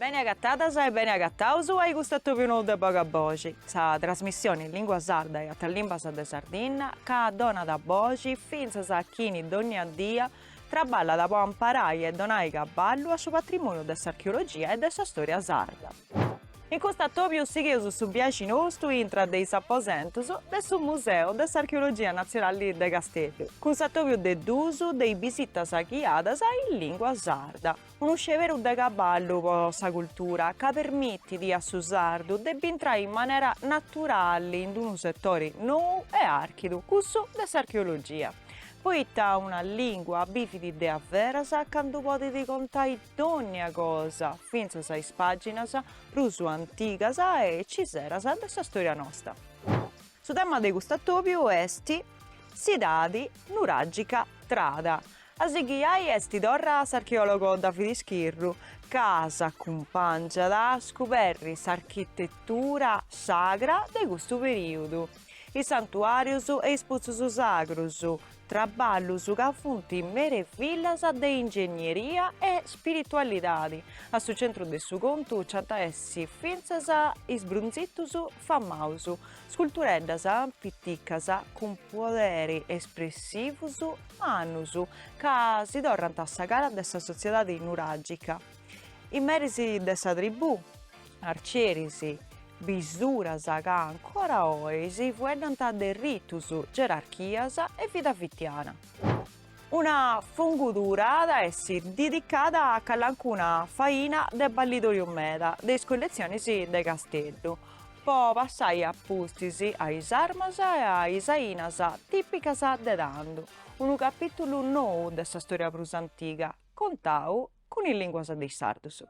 Bene agatadas e bene agataus a i custu atobiu nou de Boga Boxi, sa trasmissioni in lingua sarda e atras limbas de Sardigna ca donat boxi fintzas a chini dogna dia Traballat po amparai e donai caballu a su patrimoniu de s'archeologia e de sa storia sarda. In custu atobiu sighius su biaxi nostu intra de is aposentus de su Museu de s'Archeologia Natzionali de Casteddu, cun s'atobiu de duus de is bisitas ghiadas in lìngua sarda. Unu sceberu de caballu po sa cultura ca permitit a su sardu de b'intrai in manera naturali in unu setori nou e archidu, cussu de s'archeologia, poita una lìngua bivit de a veras candu podit contai dònnia cosa, fintzas a is pàginas prus antigas e ciseras de sa stòria nosta. Su tema de cust'atòbiu est s'edadi nuràgica trada, A si ghiai est torra s'archeòlogo Davide Schirru ca s'acumpàngiat a scuberri s'architetura sagra de custu perìodu, is santuàrius e is putzus sagrus, traballus ca funt merevillas de ingegneria e spiritualidadi. A su centru de su contu nci ant a essi fintzas is brunzitus Famaus scultureddas piticas cun poderi espressivus mannus ca si torrant sa cara de sa sotziedadi nuragica. Is meris de sa tribù, arcieris, bisuras ca ancora oi si fueddant de ritus, gerarchias e vida fitiana. Una fungudura at a essi didicada a calancuna faina de ballidoriu meda de is colletzionis de Casteddu, po passai a pustis a is armas e a is ainas tìpicas de tandu, unu capìtulu nou de sa stòria prus antiga, contau cun is lìnguas de is sardus.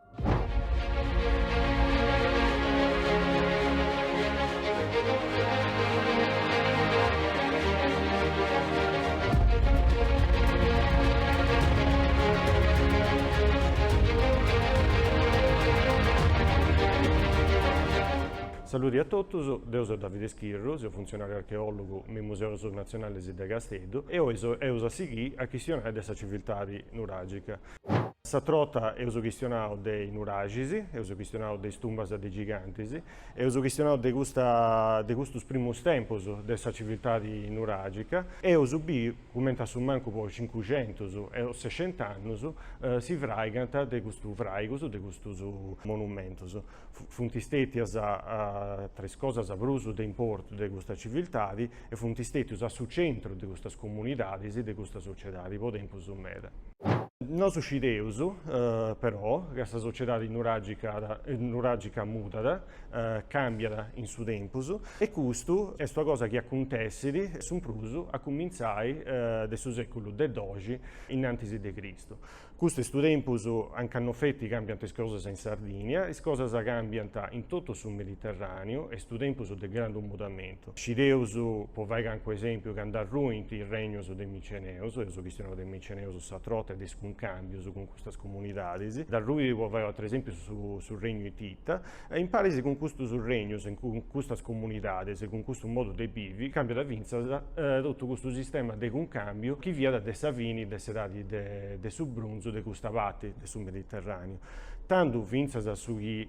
Saludi a totus, deu seu Davide Schirru, seu funtzionàriu archeòlogu me is Museus natzionales de Casteddu e oi eus a sighiri a chistionai de sa civiltadi Nuragica. S'atra borta eus chistionau de is nuraxis, eus chistionau de is tumbas de gigantis, eus chistionau de custa de custus primus tempus de sa civiltadi nuragica, eus biu cumenti a su mancu po cincuxentus o sexent'annus si fraigant de custus fraigus de custus monumentus. Funt stètias tra is cosas prus de importu de custa civiltadi e funt stètius a su centru de custas comunidadis e de custa sociedadi po tempus meda. Nosu scideus, però, ca sa sociedadi nuràgica mudat, càmbiat in su tempus e custu est una cosa chi acuntessit su prus a cumintzai de su sèculu de doxi in antis de Cristu. Custu est su tempus anca no feti càmbiant is cosas in Sardìnnia, is cosas càmbiant in totu su Mediterràniu, est su tempus de grandu mudamentu. Scideus, po fai cancu esèmpiu, ca nd'arruint is regnus de Miceneus, eus chistionau de Miceneus s'atra 'orta e de is cuncàmbius cun custas comunidadis, nd'arruit, po fai u' ateru esèmpiu, su regnu Itita, E in paris cun custus regnus e cun custas comunidadis e cun custu modu de bivi càmbiat fintzas totu custu sistema de cuncàmbiu chi fiat de sa fini de s'edadi de su brunzu de custa parti de su Mediterràneu, tandu fintzas su chi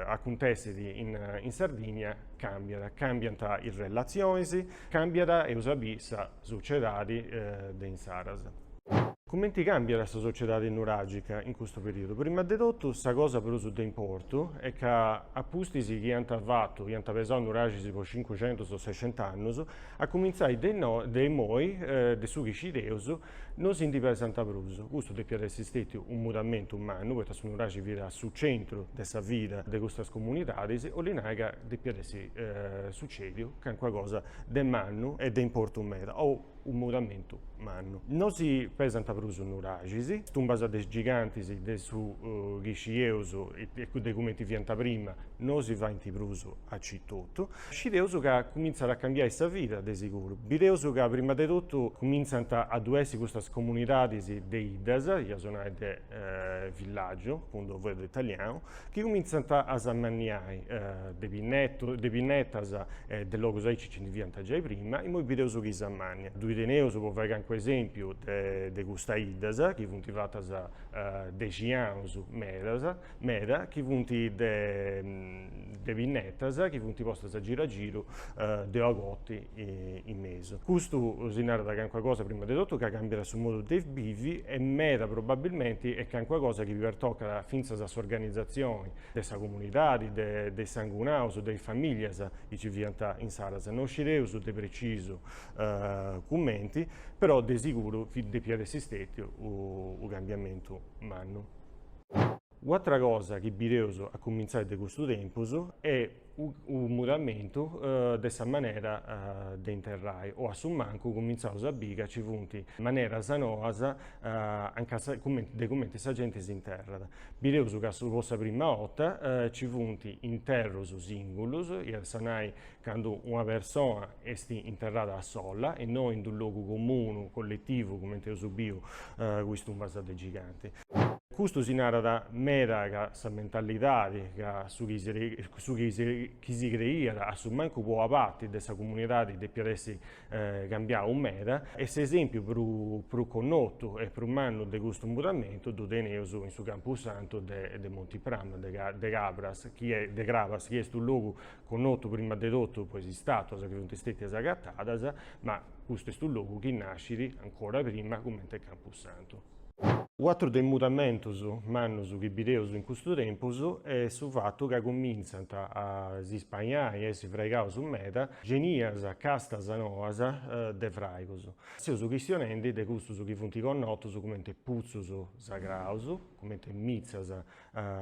acuntessit in Sardigna càmbiat, càmbiant is relatzionis, càmbiat eus a biri sa sociedadi de insaras. Cumenti càmbiat sa sociedadi nuràgica in custu perìodu? Prima de totu, sa cosa prus de importu est ca a pustis chi iant fatu, iant pesau nuraxis po cincucentus o sexent'annus, a cumintzai de imoi, de su chi scideus, no si ndi pesant prus. Custu depiat essi stètiu unu mudamentu mannu, poita su nuraxi fiat a su centru de sa vida de custas comunidadis, 'olli nai ca depiat essi sucèdiu calincuna cosa de mannu e de importu meda, o Unu mudamentu mannu. No si pesant prus nuraxis, is tumbas de is gigantis de su chi scieus de cumenti fiant prima no si faint prus aici etotu. Scideus ca cumintzat a cambiai sa vida, de siguru. Bideus ca prima de totu cumintzant a ddu essi custas comunidadis de 'iddas, iaus a nai de villaggiu, cun d-unu fueddu italianu, chi cumintzant a s'ammanniai de pinnetus, de pinnetas e de logus aici Nci ndi fiant giai prima, imoi bideus chi s'ammanniat ddui teneus po fai cancu esempiu de custas 'iddas chi funt fatas de 'ixinaus medas meda chi funt de pinnetas chi funt postas a giru a giru de una cotti in mesu. Custu si narat cancuna cosa prima de totu ca cambiat su modu de bivi e meda probabilmenti est cancuna cosa chi pertocat fintzas a s'organizazioni de sa comunidadi, de is sangunaus, de is famìllias chi nci fiant insaras. No scideus de precisu cumenti, però de siguru depiat essi stètiu unu cambiamentu mannu. U'atra cosa chi bideus a cumintzai de custu tempus est unu mudamentu de sa manera de interrai o a su mancu cumintzaus a biri ca nci funt maneras noas a de cumenti sa genti s'interrat. Bideus ca po sa prima 'orta nci funt interrus sìngulus, iat a nai candu una persona est interrada sola e no in d'unu logu comunu, colletivu, cumenti eus biu cun is tumbas de giganti. Custu si narat meda ca sa mentalidadi, ca su chi su chi chi si creiat a su mancu po parti de sa comunidadi depiat essi cambiau meda e s'esempiu prus prus connotu e prus mannu de custu mudamentu ddu teneus in su campusantu de de Monti Prama de de Cabras chi est de Crabas chi est unu logu connotu prima de totu po is istatuas chi funt stetias agatadas ma custu est unu logu chi nascit ancora prima cumenti campusantu. U'atru de is mudamentus mannus chi bideus in custu tempus est su fatu ca cumintzant a s'ispainai a essi fraigaus meda genias castas noas de fraigus. Seus chistionendi de custus chi funt connotus cumenti putzus sagraus, cumenti mitzas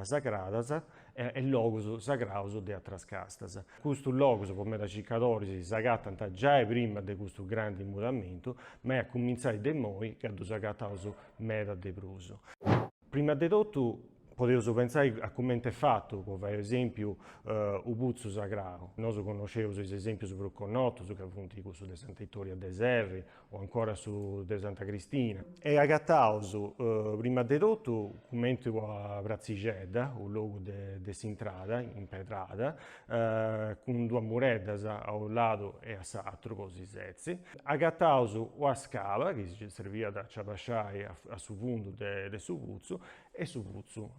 sagradas e logus sagraus de atras castas. Custus logus po medas circadoris s'agatant giai prima de custu grandi mudamentu, ma est a cumintzai de immoi ca ddus agataus meda de prus. Prima de totu podeus pentzai a cumenti est fatu, po fai esèmpiu, u putzu sagrau. Nosu connosceus is esèmpius prus connotus ca funt cussus de Sant'Ittoria de Serri, o ancora su de Santa Cristina, e agataus prima de totu cumenti una pratzixedda, u logu de de s'intrada, impedrada, cun duas mureddas a unu ladu e a s'atru po si setzi, agataus una scala chi si serviat a ci abaxai a su fundu de su putzu e su putzu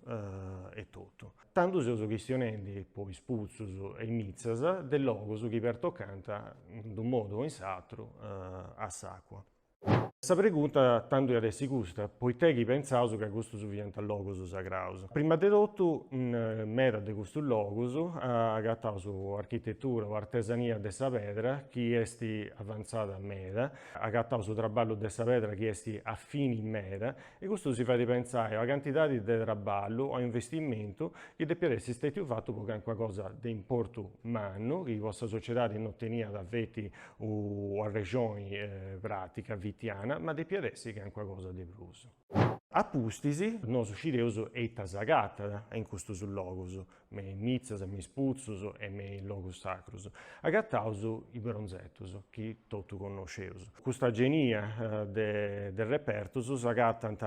etotu. Tando seus chistionendi po is putzus e is mitzas de logus chi pertocant in d'unu modu o in s'atru a s'acua. Sa pregunta tando iat essi custa, poitè chi pentzaus ca custus fiant logus sagraus. Prima de totu in medas de custus logus agataus architetura o artesania de sa pedra chi esti avantzada meda, agataus traballu de sa pedra chi esti fini meda E custu si fait pentzai a una cantidadi de traballu o investimentu chi depiat essi stètiu fatu po cancuna cosa de importu mannu chi po sa sociedadi no teniat feti una rexoni pràtica fitiana, ma depiat essi cancuna cosa de prus. A pustis, nosu scideus ita s'agatat in custus logus, me in mitzas e me is putzus e me in logus sacrus, agataus is bronzetus chi totu connosceus. Custa genia de de repertus s'agatant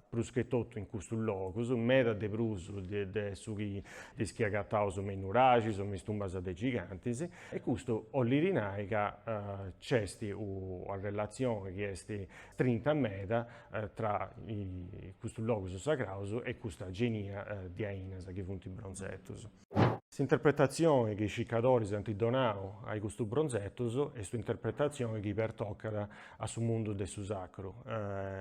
prus che totu in custus logus, meda de prus de de su chi de is chi agataus me in nuraxis o me is tumbas de gigantis, e custu 'ollit nai ca nc'est ua relatzioni chi est strinta meda tra custus logus sagraus e custa genia de ainas chi funt bronzetus. S'interpretatzioni chi is cicadoris ant donau a custus bronzetus est un'interpretatzioni chi pertocat a su mundu de su sacru,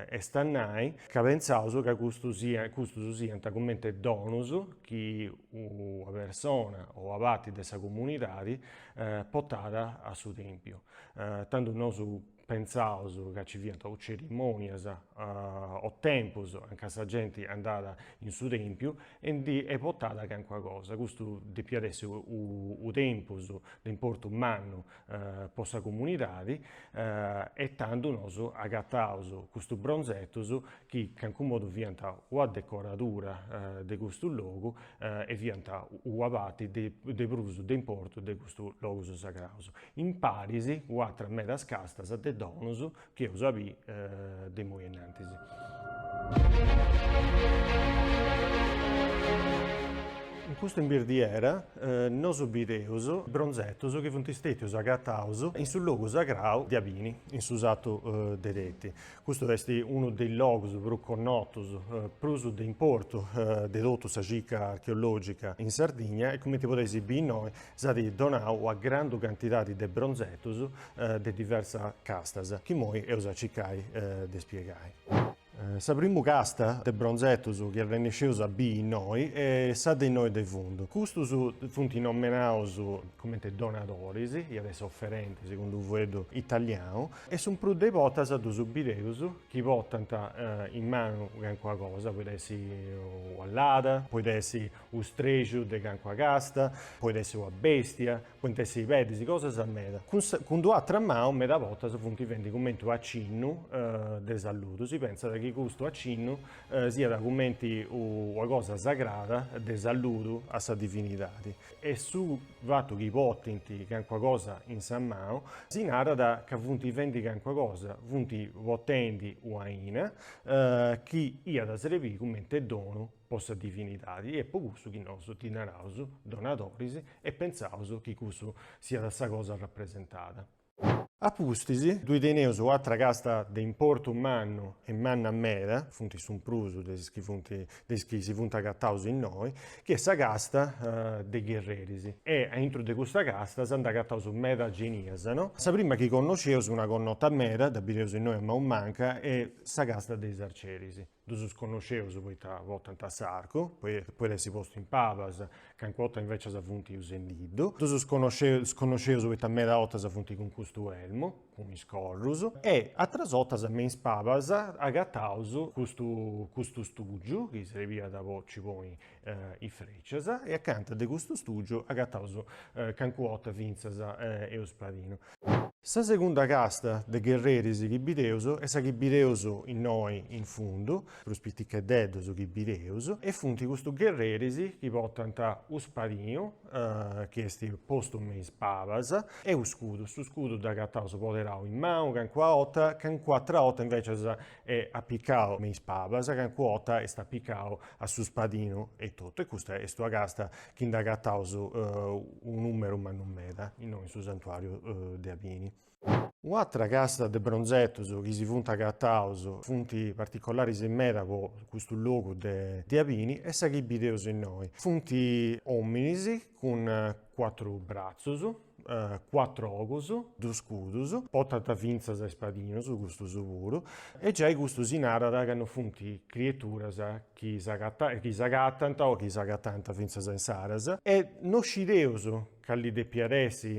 est a nai, ca pentzaus ca custus siat custus siant cumenti donus chi una persona o una parti de sa comunidadi portat a su tèmpiu, tando nosu Pentzaus ca ci fiant o cerimònias o tempus anca sa genti andat in su tèmpiu e ndi portat calincuna cosa. Custu depiat essi unu tempus de importu mannu po sa comunidadi e tando nosu agataus custus bronzetus chi calincunu modu fiant una decoradura de custu logu e fiant una parti de prus de importu de custus logus sagraus. imparis cun atras medas castas de donus chi eus a bì de imoi innantis. In custu imbirdiera nosu bideus bronzetus chi funt stètius agataus in su logu sagrau de Abini, in su satu de Teti. Custu est unu de is logus prus connotus, prus de importu de totu sa circa archeològica in Sardigna e cumenti podeis bì innoi S'at donau una grandu cantidadi de bronzetus de diversas castas, chi imoi eus a cicai de spiegai. Sa primu casta de bronzetus chi arrennesceus a bii innoi est sa de innoi de fundu. Custus funt nomenaus cumenti donadoris, iat essi oferentis segundu u' fueddu italianu, e su prus de 'ortas ddus bideus chi portant in manu calincuna cosa, poit essi una lada, poit essi U' strexu de cancua casta, poit essi una bèstia, point essi pedis, cosas meda. Cun d'una atra manu meda bortas funt fendi cumenti u' acinnu de saludu, si pentzat chi custu acinnu siat cumenti una cosa sagrada de saludu a sa divinidadi. E su fatu chi portint cancuna cosa in sa manu si narat ca funt fendi cancuna cosa, funt portendi una aina chi iat a srebiri cumenti donu po sa divinidadi e po cussu chi nosu ddi naraus donadoris e pentzaus chi cussu siat sa cosa rapresentada. A pustis ddui teneus u' atra casta de importu mannu e manna meda, funt su prus de is chi funt de is chi si funt agataus innoi, chi est sa casta de gherreris e a intru de custa casta s'ant agataus meda genias, no? Sa prima chi connosceus una connota meda dda bideus innoi a manu manca est sa casta de is arceris. Ddus connosceus poita potant s'arcu, podit essi postu in pabas, cancu 'orta invecias funt usendiddu. Ddus connosceus poita meda 'otas funt cun custu elmu, cun is corrus, e atras 'otas me is pabas agataus custu custu stugiu, chi srebiat po nci ponni is frècias e acanta de custu stùgiu agataus cancu 'orta fintzas u' spadinu. Sa segunda casta de gherreris chi bideus est sa chi bideus innoi in fundu, prus piticheddeddus chi bideus, e funt custus gherreris chi portant u' spadinu chi est postu me is pabas e u' scudu, su scudu dd'agataus poderau in manu cancu 'orta, cancu atr'orta invècias est apicau me is pabas, cancu 'orta est apicau a su spadinu etotu, e custa est una casta chi nd'agataus unu numeru mannu meda, innoi in su santuariu de Abini. Una atra casta de bronzetus chi si funt agataus, funt particolaris meda po custu logu de de Abini, est sa chi bideus innoi, funt ominis cun cuatru bratzus, cuatru ogus, duus scudus, potant fintzas is spadinus custus puru, e giai custu si narat ca no funt crieturas chi chi s'agatant o chi s'agatànt fintzas a insaras, e no scideus cali depiat essi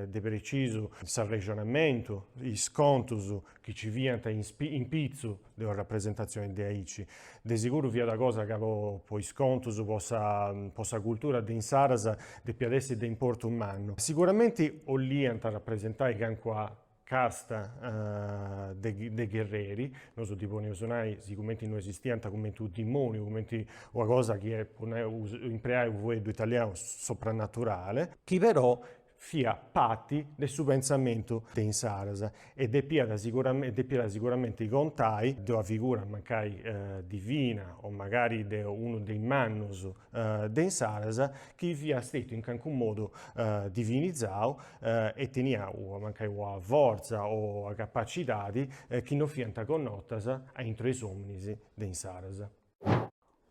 de precisu s'arrexonamentu, is contus chi nci fiant in pitzu de una rapresentatzioni de aici. De seguru fiat cosa ca po is contus, po sa po sa cultura de insaras depiat essi de importu mannu. Siguramenti 'olliant rapresentai calincuna casta de de gherreri, nosu ddi podeus nai, sigumenti no esistiant, cumenti u' dimoniu, cumenti una cosa chi est po nai, impreai u' fueddu italianu, soprannaturale, chi però fia parti de su pentzamentu de insaras e depiat siguramente contai de una figura mancai divina o magari de unu de is mannus de insaras chi fia stetiu in calincunu modu divinizau e tenia mancai una fortza o una capacidadi chi no fiant connotas aintru 'e is ominis de insaras.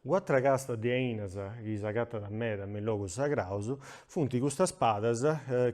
U'atra casta de ainas chi s'agatat meda me is logus sagraus funt custas padas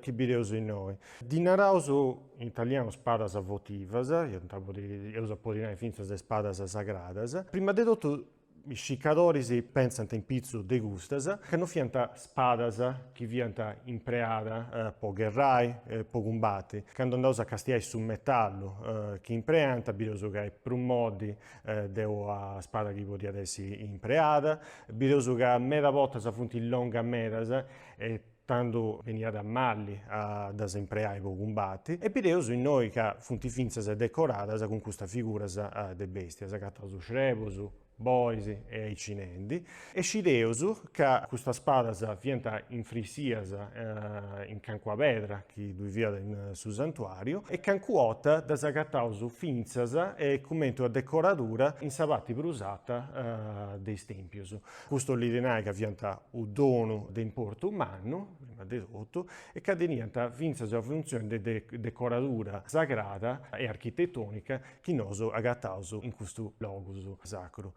chi bideus innoi. Ddi naraus in italianu spadas votivas, iant a podi, eus a podi nai fintzas is padas sagradas. Prima de totu is cicadoris pentzànt in pitzus de custas ca no fiant spadas chi fiant impreada po gherrai, po cumbati. Candu andaus a castiai su metallu chi impreant bideus ca est prus modi de ua spada chi podiat essi impreada, bideus ca meda bortas funt longas medas e tando beniat malli a ddas impreai po cumbati, e bideus innoi ca funt fintzas decoradas cun custas figuras de bèstias, s'acatant srebus, bois e aicinendi, E scideus ca custas spadas fiant infrisias in cancua pedra chi ddui fiat in su santuàriu e cancu 'ota ddas agataus fintzas cumenti una decoradura in sa parti prus ata de is tèmpius. Custu 'olit nai ca fiant u' donu de importu mannu, prima de totu, e ca teniant fintzas una funtzioni de decoradura sagrada e architetònica chi nosu agataus in custu logus sacru.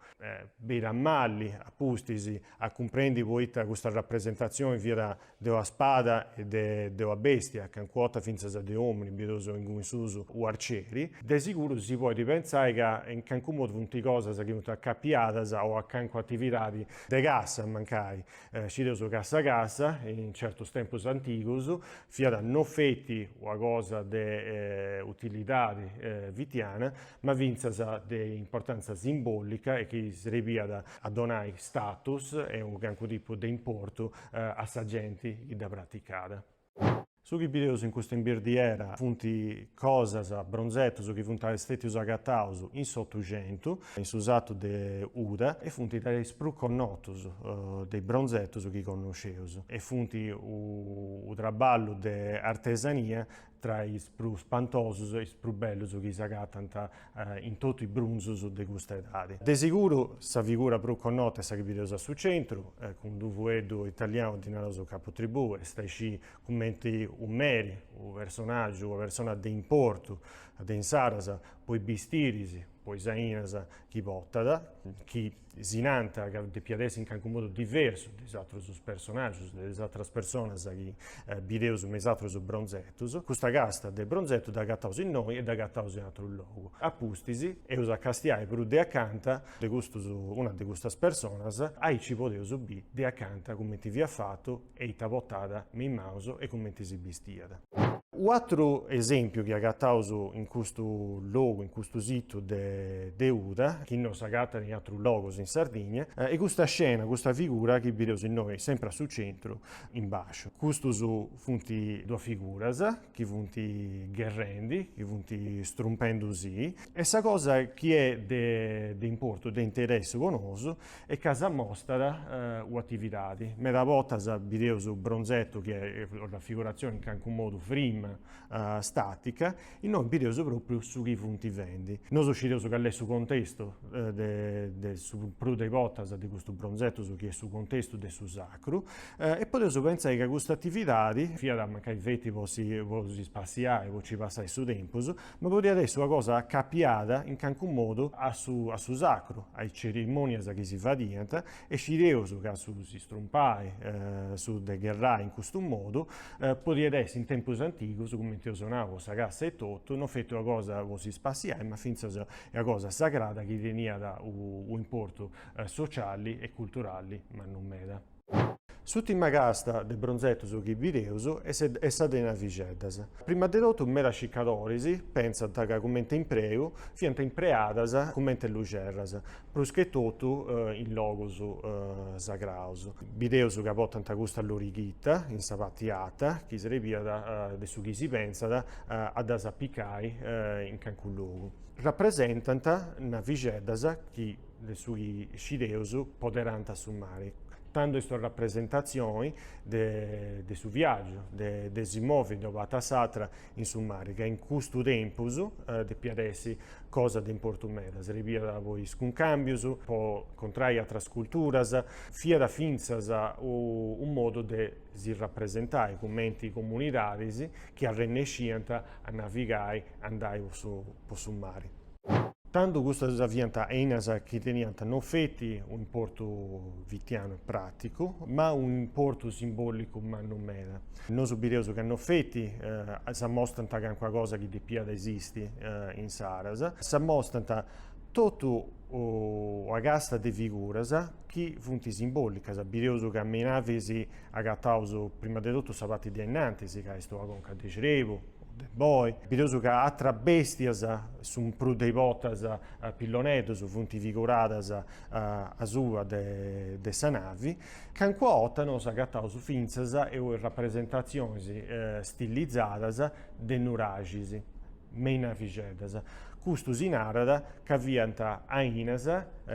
Benit malli, a pustis, a cumprendi poita custa rapresentatzioni fiat de una spada e de una bèstia, cancu 'ota fintzas de omini, bideus inguni in susu u' arceri. De siguru si podit pentzai ca in cancu modu funt cosas chi funt acapiadas o a cancu atividadi de cassa mancai. Scideus ca sa cassa, in certus tempus antigus, fiat no feti una cosa de utilidadi fitiana, ma fintzas de importantza simbòlica e chi srebiat a donai status e unu carcu tipu de importu a sa genti chi dda praticat. Su chi bideus in custa imbirdiera funt cosas, bronzetus chi funt stètius agataus in s'Otuxentu, in su satu de Uda, e funt de is prus connotus de is bronzetus chi connosceus e funt u' traballu de artesania tra is prus spantosus e is prus bellus chi s'agatant in totu is brunzus de custa edadi. De siguru sa figura prus connota est sa chi bideus a su centru, cun d-u' fueddu italianu ddi naraus capu tribù, est a isciri cumenti u' meri, u' personagiu, una persona de importu de insaras po is bistiris, po is ainas chi portat, chi si nant ca depiat essi in carcu modu diversu de is atrus personagius, de is atras personas chi bideus me is atrus bronzetus, custa casta de bronzetu dd'agataus innoi e dd'agataus in atru logu. A pustis, eus a castiai prus de acanta de custus, una de custas personas, aici podeus biri de acanta cumenti fiat fatu, E ita potat me in manus e cumenti si bistiat. U'atru esèmpiu chi agataus in custu logu, in custu situ de de Uda, chi non s'agatat in atrus logus in Sardigna, est custa scena, custa figura chi bideus innoi sempri a su centru in basciu. Custus funt duas figuras chi funt gherrendi, chi funt strumpendi-si e sa cosa chi est de importu, de interessu po nosu, est ca s'amostat u'atividadi. Meda bortas bideus bronzetu chi est rafiguratzioni in calincunu modu frima, stàtica, innoi bideus propriu su chi funt fendi. Nosu scideus cali est su contestu de su prus de bortas de custus bronzetus, su chi est su contestu de su sacru, e podeus pentzai ca cust'atividadi, fiat mancai feti po si po si spassiai, po ci passai su tempus, Ma podiat essi una cosa acapiada in cancu modu a su a su sacru, a is cerimonias chi si fadiant, e scideus ca su si strumpai, su de gherrai in custu modu, podiat essi in tempus antigus, cumenti eus nau po sa cassa e totu, no feti una cosa po si spassiai, ma fintzas una cosa sagrada chi teniat u' importu sociali e culturali mannu meda. S'ùtima casta de bronzetos chi bideus est sa de navixeddas. Prima de totu medas cicadoris pentzant ca cumenti impreu fiant impreadas cumenti luxerras, prus che totu in logus sagraus. Bideus ca portant custa lorighita in sa parti ata chi srebiat de su chi si pentzat a ddas apicai in calincunu logu. Rapresentant navixeddas chi de su chi scideus poderant a su mari, tando est sa rapresentatzioni de su viàgiu, de si movi de una parti a s'atra in su mari, ca in custu tempus depiat essi cosa de importu meda, srebiat po is cuncàmbius, po incontrai atras culturas, fiat fintzas unu modu de si rapresentai cumenti comunidadis chi arrennesciant a navigai, a andai po su mari. Tando custas fiant ainas chi teniant non feti un'importu fitianu e pràticu, ma un'importu simbòlicu mannu meda. Nosu bideus ca non feti s'amostant calincuna cosa chi depiat esisti insaras, s'amostant totu una casta de figuras chi funt simbòlicas. Bideus ca me is navis agataus prima de totu sa parti de ainnantis, ca est una conca de crebu, de boi, bideus ca atras bèstias su prus de is bortas pilloneddus, funt figuradas asuba de sa navi. Cancuna 'orta nosu agataus fintzas e rapresentatzionis stilizadas de nuraxis, me is navixeddas, custu si narat ca fiant ainas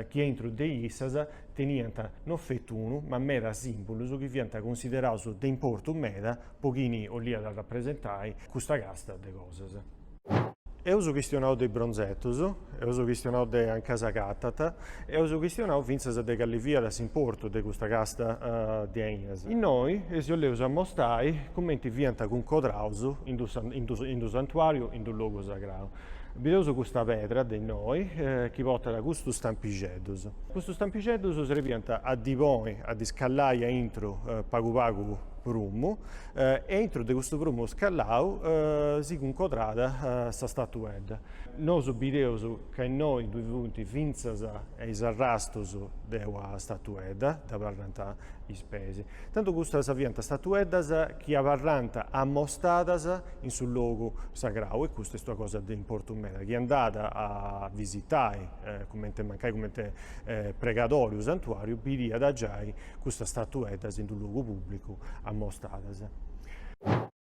chi aintru de issas teniant no fetu unu ma meda sìmbolus chi fiant cunsideraus de importu meda, po chini 'olliat arrapresentai custa casta de cosas. Eus chistionau de is bronzetus, eus chistionau de anca s'agatat, eus chistionau fintzas de calli fiat s'importu de custa casta de ainas. Innoi si 'olleus amostai cumenti fiant cuncodraus in d'unu santuàriu, in d'unu logu sagrau. Bideus custa pedra de innoi chi portat custus stampixeddus. Custus stampixeddus srebiant a ddi poni, a ddi scallai aintru pagu pagu prumu e intro de custu prumu scallau si cuncodrat sa statuedda. Nosu bideus ca innoi ddu funt fintzas e is arrastus de ua statuedda, dd'abarrant is peis. Tantu custas fiant statueddas chi abarrant amostadas in su logu sagrau e custa est ua cosa de importu meda. Chi andat a visitai, cumenti mancai cumenti pregadori u' santuàriu bidiat giai custas statueddas in d'u logu pùblicu amostadas.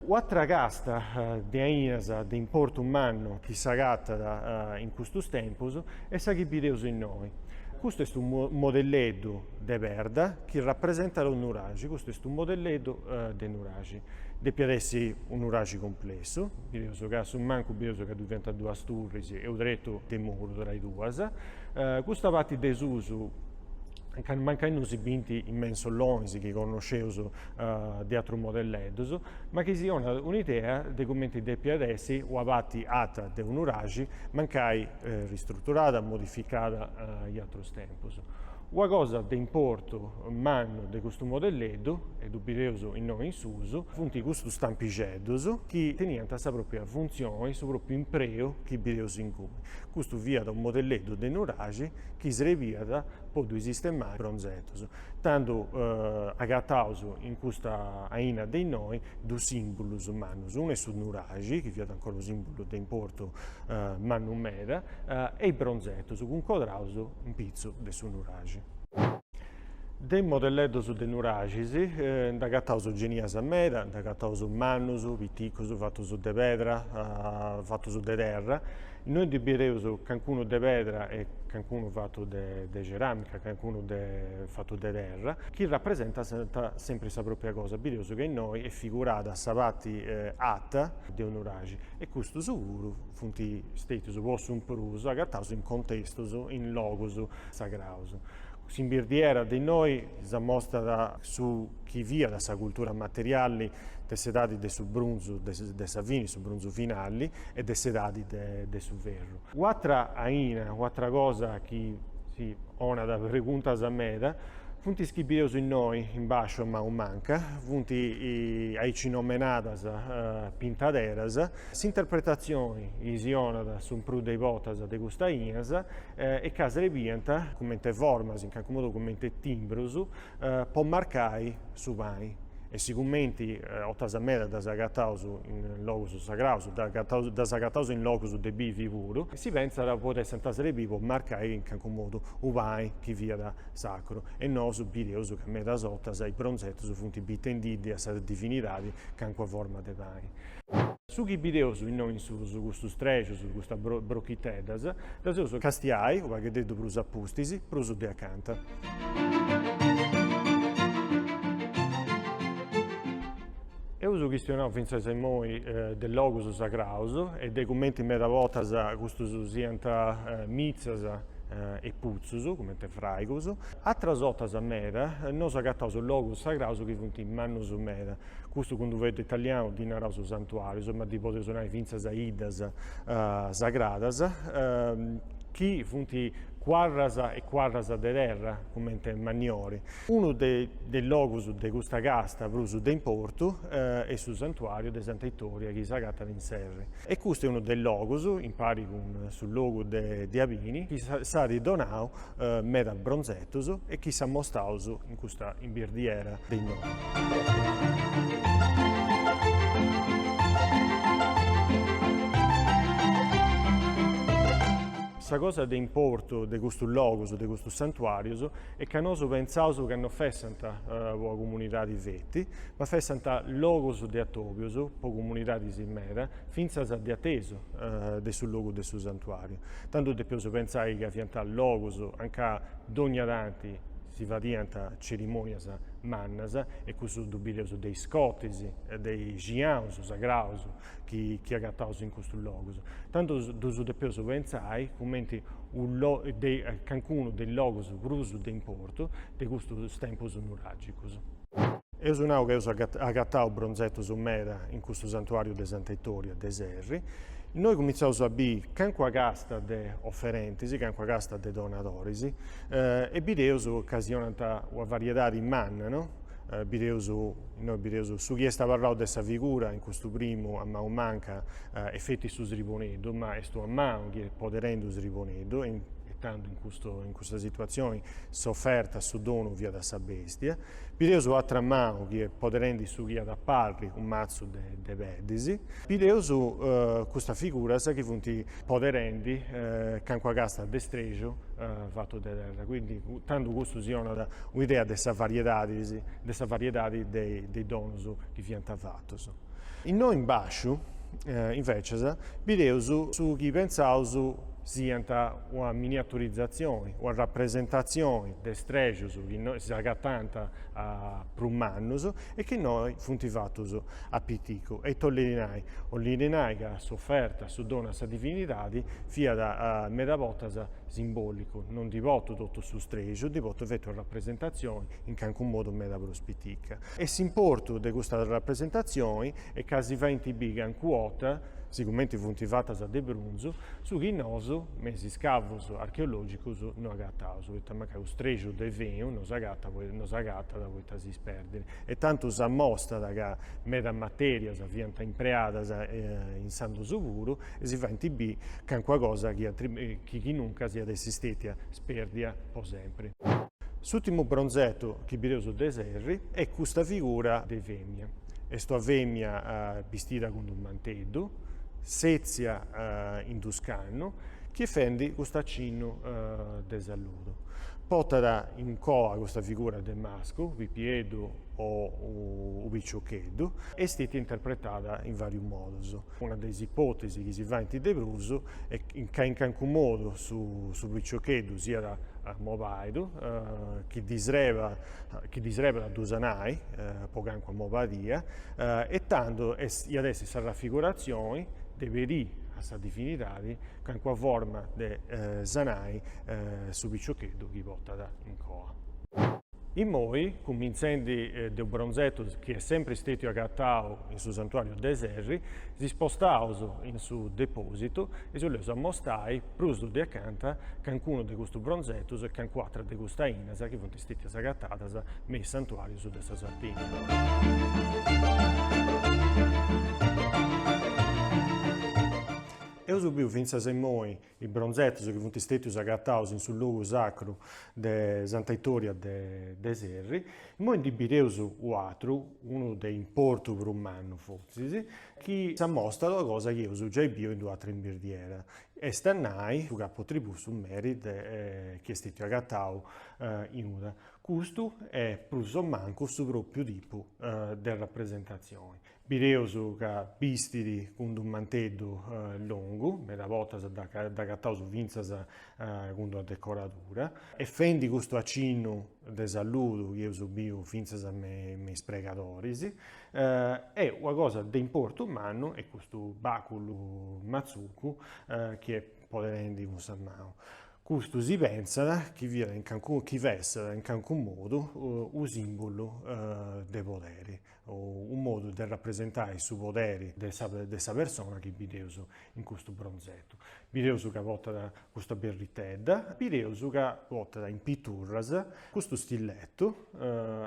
U'atra casta de ainas de importu mannu chi s'agatat in custus tempus est sa chi bideus innoi. Custu est unu modelleddu de perda chi rapresentat u' nuraxi, custu est unu modelleddu de nuraxi. Depiat essi u' nuraxi cumplessu, bideus ca a su mancu bideus ca ddu fiant duas turris e u' tretu de muru tra is duas. Custa parti de susu mancai non si bint is mensolonis chi connosceus de atrus modelleddus, ma chi si 'onat un'idea de cumenti depiat essi una parti ata de u' nuraxi, mancai ristruturada, modificada in atrus tempus. Una cosa de importu mannu de custu modelleddu, e ddu bideus innoi in susu, funt custus stampixeddus chi teniant sa pròpria funtzioni, su pròpriu impreu chi bideus inguni. Custu fiat unu modelleddu de u' nuraxi chi srebiat po ddui sistemai bronzetus, tandu agataus in custa aina de innoi dus simbulus mannus, unu est su nuraxi, chi fiat ancora unu simbulu de importu mannu meda, e is bronzetus cuncodraus in pitzu de su nuraxi. De is modelleddus de nuraxis nd'agataus genias meda, nd'agataus mannus, piticus, fatus de pedra, fatus de terra, Innoi ndi bideus cancunu de pedra e cancunu fatu de ceràmica, cancunu fatu de terra, chi rapresentant sempri sa pròpia cosa. Bideus ca innoi est figurada sa parti ata de unu nuraxi e custus puru funt stètius po su prus agataus in contestus, in logus sagraus. S'imbirdiera de innoi s'amostat su chi fiat sa cultura materiali de s'edadi de su brunzu de sa fini, su brunzu finali, e de s'edadi de su ferru. U'atra aina, u'atra cosa chi si 'onat preguntas meda, funt is chi bideus innoi, in basciu a mau manca, funt aici nomenadas pintaderas. S'interpretatzioni chi si 'onat su prus de i botas de custas ainas est ca srebiant, comente formas, in cancu modu comente timbrus, po marcai su pani. E sigumenti 'otas meda ddas agataus in logus sagraus, ddas agataus in logus de bivi puru, si pentzat potessint srebì po marcai in cancu modu u' pani chi fiat sacru. E nosu bideus ca medas 'otas is bronzetus funt bitendiddi a sa divinidadi cancuna forma de pani. Su chi bideus innoi in susu, custus strexus, custas brochiteddas, ddas eus castiai u' pagheddeddu prus a pustis, prus de acanta. Eus chistionau fintzas immoi de logus sagraus e de cumenti meda botas custus siant mitzas e putzus, cumenti fraigus. Atras otas meda nosu agataus logus sagraus chi funt mannus meda. Custu cun d'u fueddu italianu ddi naraus santuarius, ma ddi podeus nai fintzas iddas sagradas, chi funt cuarras e cuarras de terra, cumenti manniori. Unu de is logus de custa casta prus de importu est su santuariu de Santa Itoria chi s'agatat in Serri. E custu est unu de is logus, impari cun su logu de Abini, chi s'at donau meda bronzetus e chi s'amostaus in custa imbirdiera de innoi. Sa cosa de importu de custus logus, de custus santuarius, est ca nosu pentzaus ca no fessant po una comunidadi feti, ma fessant logus de atobius po comunidadis meda, fintzas de atesu de su logu de su santuariu. Tandu depeus pentzai ca fiant logus anca dònnia tanti si fadiant cerimònias mannas e cussu ddu bideus de is cotis e de is giaus sagraus chi agataus in custus logus. Tandu ddus depeus pentzai cumenti cancunu de is logus prus de importu de custus tempus nuràgicus. Eus nau ca eus agatau bronzetus meda in custu santuàriu de Santa Itoria de Serri. Innoi cumintzaus a biri calincuna casta de oferentis, calincuna casta de donadoris e bideus ca si 'onant una variedadi manna, no. Bideus, innoi bideus su chi est abarrau de sa figura in custu primu a manu manca est feti su sriboneddu, ma est una manu chi est poderendi u sriboneddu e in e tandu in custu in custa situazioni s'oferta su donu fiat sa bestia bideus u atra manu chi est poderendi su chi iat a parri u mazzu de de peddis bideus custas figuras chi funti poderendi cancua casta de streju fattu de terra quindi tandu custu si onat u idea de sa variedadis de sa variedadi de de i donus chi fiant fattus. Innoi in bàsciu, invecis, bideus su chi pentzaus siant una miniaturizatzioni, una rapresentatzioni de strèxius chi s'agatànt prus mannus e chi innoi funt fatus a piticu. E ita 'ollit nai? 'ollit nai ca s'oferta, su donu a sa divinidadi, fiat meda bortas simbòlicu, non ndi portu totu su strèxiu, ndi portu feti una rapresentatzioni in calincunu modu meda prus pitica. e s'importu de custas rapresentazionis est ca si faint bi cancu ota, sigumenti funt fatas de brunzu, su chi nosu, me is iscavus archeologicus, no agataus, poita mancai u strexiu de fenu no s'agatat po no s'agatat poita si isperdit. E tandu s'amostat ca medas materias fiant impreadas in s'antigu puru e si faint bi cancuna cosa chi chi chi nuncas iat essi stetia sperdia po sempri. S'ùrtimu bronzetu chi bideus de Serri est custa figura de fèmia. Est una fèmia bistida cun d'u manteddu, sètzia in d'u scannu, chi est fendi custu acinnu de saludu. Portat in coa custa figura de mascu, u' pipieddu o u' piciocheddu. Est stètia interpretada in vàrius modus. Una de is ipòtesis chi si faint de prus est ca in cancu modu su piciocheddu siat mobàidu, chi ddi srebat a ddu sanai po cancu mobadia, e tandu iat essi sa rafiguratzioni de perí a sa divinidadi calincuna forma de sanai su piciocheddu chi portat in coa. Immoi, cumintzendi de u bronzetu chi est sempri stètiu agatau in su santuàriu de Serri, si spostaus in su depòsitu e si boleus ammostai prus de acanta cancunu de custus bronzetus e cancu atra de custas ainas chi funt stètias agatadas me is santuàrius de sa Sardigna. Eus biu fintzas immoi is bronzetos chi funt stètius agataus in su logu sacru de Santa Itoria de Serri. Immoi ndi bideus u'atru, unu de importu prus mannu fotzis, chi s'amostat una cosa chi eus giai biu in u'atra imbirdiera, est a nai su capotribù su meri de chi est stètiu agatau in Uta. Custu est prus o mancus su pròpriu tipu de rapresentatzioni. Bideus ca bistit cun d'u manteddu longu, meda bortas dd'agataus fintzas cun d'una decoradura, e fendi custu acinnu de saludu chi eus biu fintzas me is pregadoris, e una cosa de importu mannu est custu baculu matzucu chi est poderendi cun sa manu. Custu si pentzat chi fiat in calincunu, chi fessat in calincunu modu u simbulu de poderi. unu modu de rapresentai su poderi de sa de sa persona chi bideus in custu bronzetu. Bideus ca portat custa birritedda, bideus ca portat in piturras custu stilletu,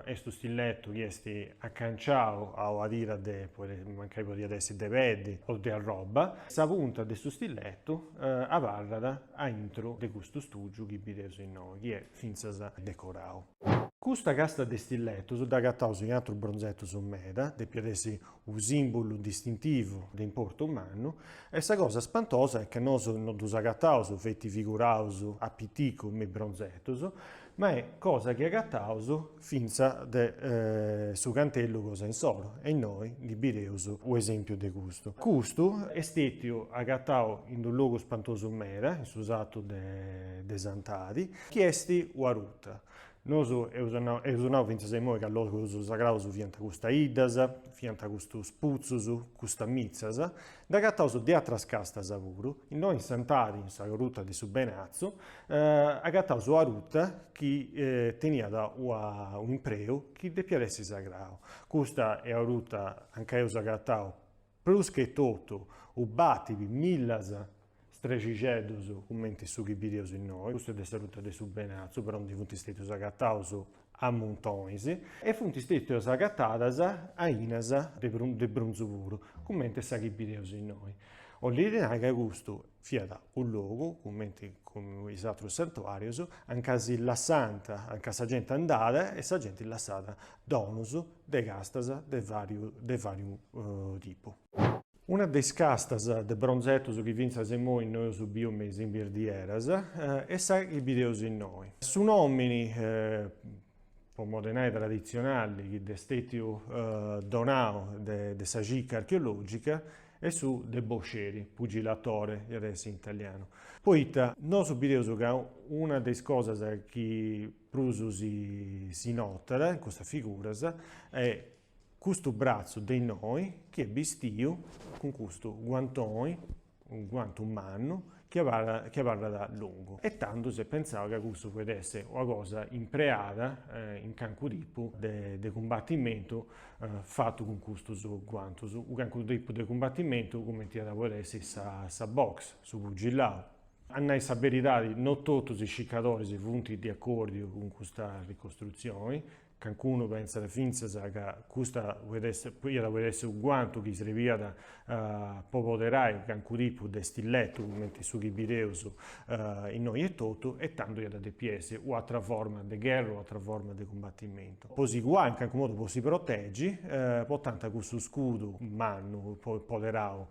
est unu stilletu chi est acanciau a una tira de, mancai podiat essi de peddi o de arroba, sa punta de su stilletu abarrat aintru de custu stugiu chi bideus innoi, chi est fintzas decorau. Custa casta de stilletus dd'agataus in atrus bronzetus meda, depiat essi unu simbulu distintivu de importu mannu, e sa cosa spantosa est ca nosu no ddus agataus feti figuraus a piticu me is bronzetus, ma est cosa chi agataus fintzas de su cantellu cosa insoro, e innoi ndi bideus u' esempiu de custu. Custu est stetiu agatau in d'u' logu spantosu meda, in su satu de Santadi, chi est ua ruta. Nosu eus nau, eus nau fintzas a imoi ca logus sagraus fiant custas 'iddas, fiant custus putzus, custas mitzas, nd'agataus de atras castas puru, innoi in Santadi, in sa Ruta de su Benatzu, agataus una ruta chi teniat una un'impreu chi depiat essi sagrau. Custa est una ruta a nca eus agatau Prus che totu, u' bàtiri millas strexixeddus cumenti su chi bideus innoi, custu est de sa ruta de su Benatzu, però ndi funt stètius agataus a muntonis, e funt stètius agatadas ainas de brunzu puru, cumenti sa chi bideus innoi, 'olit nai ca custu Fiat unu logu, cumenti cun is atrus santuàrius, a nca si lassànt, a nca sa genti andàt e sa genti lassàt donus de castas de vàriu de vàriu tipu. Una de is castas de bronzetus chi fintzas imoi no eus biu me is imbirdieras, est sa chi bideus innoi. Su nòmini, po modi 'e nai traditzionali, chi dd'est stètiu donau de sa circa archeològica, e su de boxeri, pugilatore, iat a essi in italianu, poita nosu bideus ca una de is cosas chi prus si notat in custas figuras est custu bratzu de innoi chi est bistiu cun custu guantoni, unu guantu mannu, chi abarrat longu e tandu s'est pentzau ca custu podet esser una cosa impreada in cancu tipu de cumbatimentu fatu cun custus guantus, u cancu tipu de cumbatimentu cumenti iat a podi essi sa box, su pugillau. A nai sa beridadi no totus is circadoris funt de acordiu cun custa ricostrutzioni, Cancunu pentzat fintzas ca custa poit esser, iat poiri esser u guantu chi srebiat po poderai cancu tipu de stilletu cumenti su chi bideus innoi etotu e tando iat a depi essi u atra forma de gherra, u atra forma de cumbatimentu po si cuai in cancu modu po si protegi, potant cussu scudu mannu poderau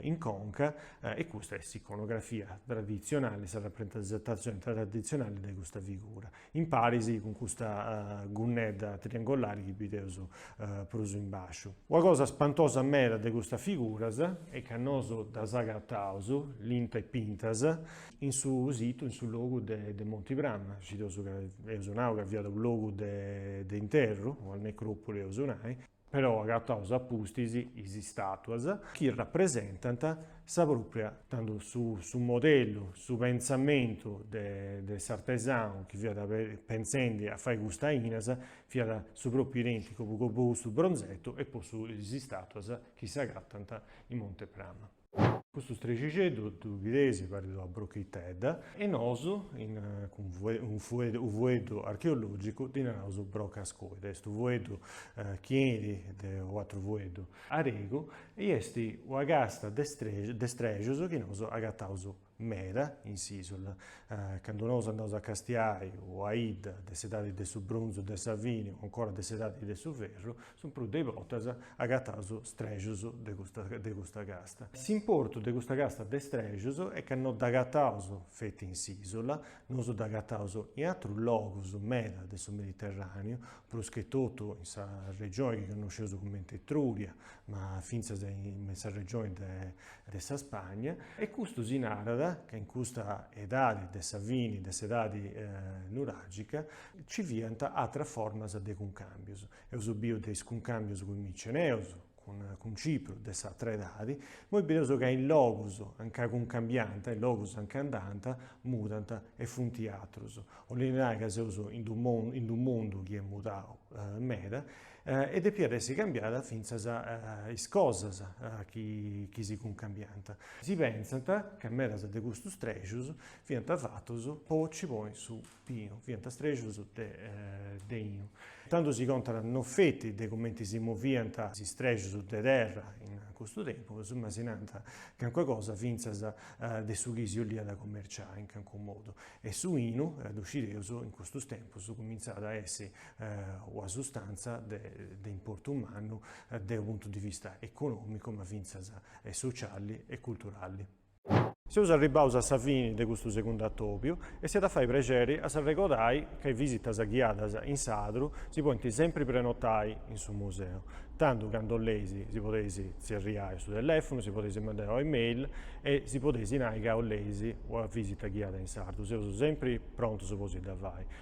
in conca e custa est s'iconografia traditzionali, sa rapresentazioni traditzionali de custa figura. in paris cun custa gunnedda triangolari chi bideus prus in basciu. Una cosa spantosa meda de custas figuras est ca nosu ddas agataus, linta e pintas, in su situ, in su logu de Monti Prama, scideus ca, eus nau ca fiat u' logu de interru, una necropoli eus nai, però agataus a pustis is istàtuas chi rapresentant sa pròpria, tando su su modellu, su pentzamentu de de s'artesanu chi fiat pentzendi a fai custas ainas, fiat su pròpriu idènticu po po custu bronzetu e po su is istàtuas chi s'agatant in Monti Prama. Custu strexixeddu ddu bideis parit una brochitedda. E nosu, cun u fueddu archeològicu, ddi naraus broca ascoide. Est u fueddu chi 'enit de u atru fueddu aregu e est una casta de strexus chi nosu agataus. meda in s'Isula, candu nosu andaus a castiai u a idda de s'edadi de su bronzu de sa fini u ancora de s'edadi de su ferru, su prus de i bortas agataus strexus de custa de custa casta. S'importu de custa casta de strexus est ca no dd'agataus feti in s'Isula, nosu dd'agataus in atrus logus meda de su Mediterraniu, pruschetotu in sa regioni chi connosceus cumenti Etruria, ma fintzas in sa regioni de de sa Spagna, e custu si narat ca in custa edadi de sa fini de s'edadi nuràgica nci fiant atras formas de cuncàmbios. Eus biu de is cuncàmbios cun is miceneus, cun cun Cipru de s'atra edadi, imoi bideus ca in logus a nca cuncambiant, in logus a nca andant, mudant e funt atrus. 'olit nai ca seus in d'unu in d'unu mundu chi est mudau meda E depiat essi cambiada fintzas is cosas chi si cuncambiant. Si pentzat ca medas de custus strexus fiant fatus po ci ponni su binu, fiant strexus de 'inu. Tandu si contant no feti de cumenti si moviant is strexus de terra in custu tempus, ma si nant calincuna cosa fintzas de su chi si 'oliat commerciai in calincunu modu. E su 'inu, ddu scideus, in custu tempus cumintzat a essi una sustàntzia de importu mannu de unu puntu de vista econòmicu ma fintzas sociali e culturali. Seus arribbaus a sa fini de custu segundu atòbiu e si at a fai prexeri a s'arregodai ca is visitas ghiadas in Sadru si podint sempri prenotai in su museu, tandu candu 'oleis si podeis tzerriai a su telèfonu, si podeis mandai una email e si podeis nai ca 'oleis una visita ghiada in sadru, seus sempri prontus po si dda fai.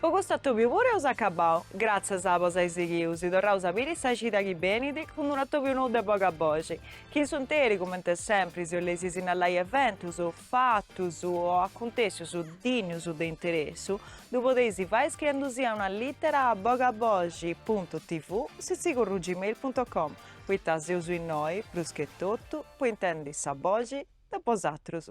Po custu atòbiu puru eus acabau. Gratzias po s'ai sighiu, si torraus a biri sa cida chi benit, cun d'unu atòbiu nou de Boga Boxi, chi in s'unteri, cumenti sempri, si 'oleis sinnallai eventus, fatus o acuntessius dinnus de interessu, ddu podeis fai scriendusia una littera a bogaboxi puntu tv sitzigorru gmail puntu com, poita seus innoi, prus che totu, po intendi sa boxi de bosatrus.